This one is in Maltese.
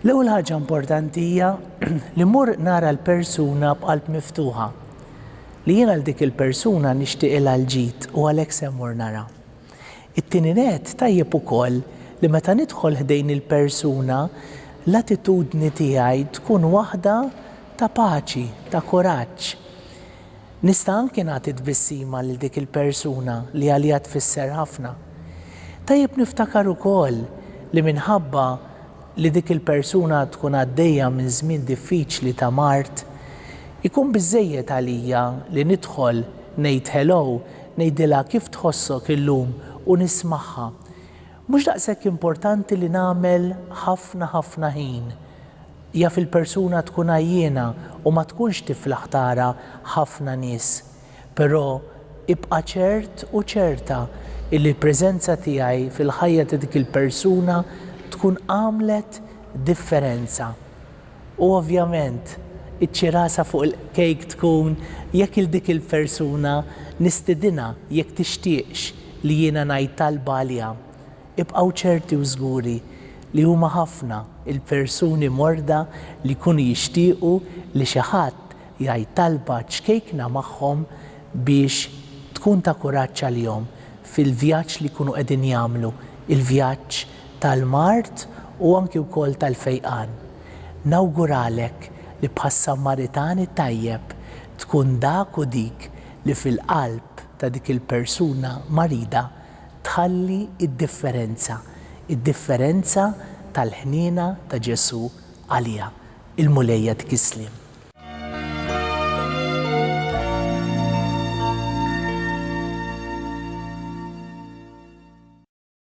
L-ewwel ħaġa importanti hija li mmur nara l-persuna b'qalb miftuħa, li jien għal dik il-persuna nixtieqilha l-ġid u għalhekk se mmur nara. It-tieni nett tajjeb ukoll li meta nidħol ħdejn il-persuna l-attitudni tiegħi tkun waħda ta' paċi, ta' kuraġġ. Nista' anki nagħti tbissima lil dik il-persuna li għaliha tfisser ħafna. Tajjeb niftakar ukoll li minħabba li dik il-persuna tkun għaddejja minn żmien diffiċli ta' mard, ikun biżżejjed għalija li nidħol, ngħid hello, ngħidilha kif tħossok illum u nismagħha. Mhux daqshekk importanti li nagħmel ħafna ħafna ħin. Jaf il-persuna tkun għajjiena u ma tkunx tiflaħ tara ħafna nies. Però ibqa' ċert u ċerta illi l-preżenza tiegħi fil-ħajja ta' dik il-persuna tkun għamlet differenza. U ovvjament, iċ-ċirasa fuq il-kejk tkun jekk 'il dik il-persuna nistidinha jekk tixtieqx li jiena ngħid talba għaliha. Ibqgħu ċerti u żguri li huma ħafna il-persuni morda li jkunu jixtiequ li xi ħadd jgħid talba ċkejkna magħhom biex tkun ta' kuraġġ għalihom fil-vjaġġ li jkunu qegħdin jagħmlu, il-vjaġġ tal-mard u anki wkoll tal-fejqan. Nawguralek li bħas-Sammaritani t-tajjeb tkun dak u dik li fil-qalb ta' dik il-persuna marida tħalli d-differenza, id-differenza tal-ħniena ta' Ġesù għaliha. Il-Mulej jagħtik is-sliem.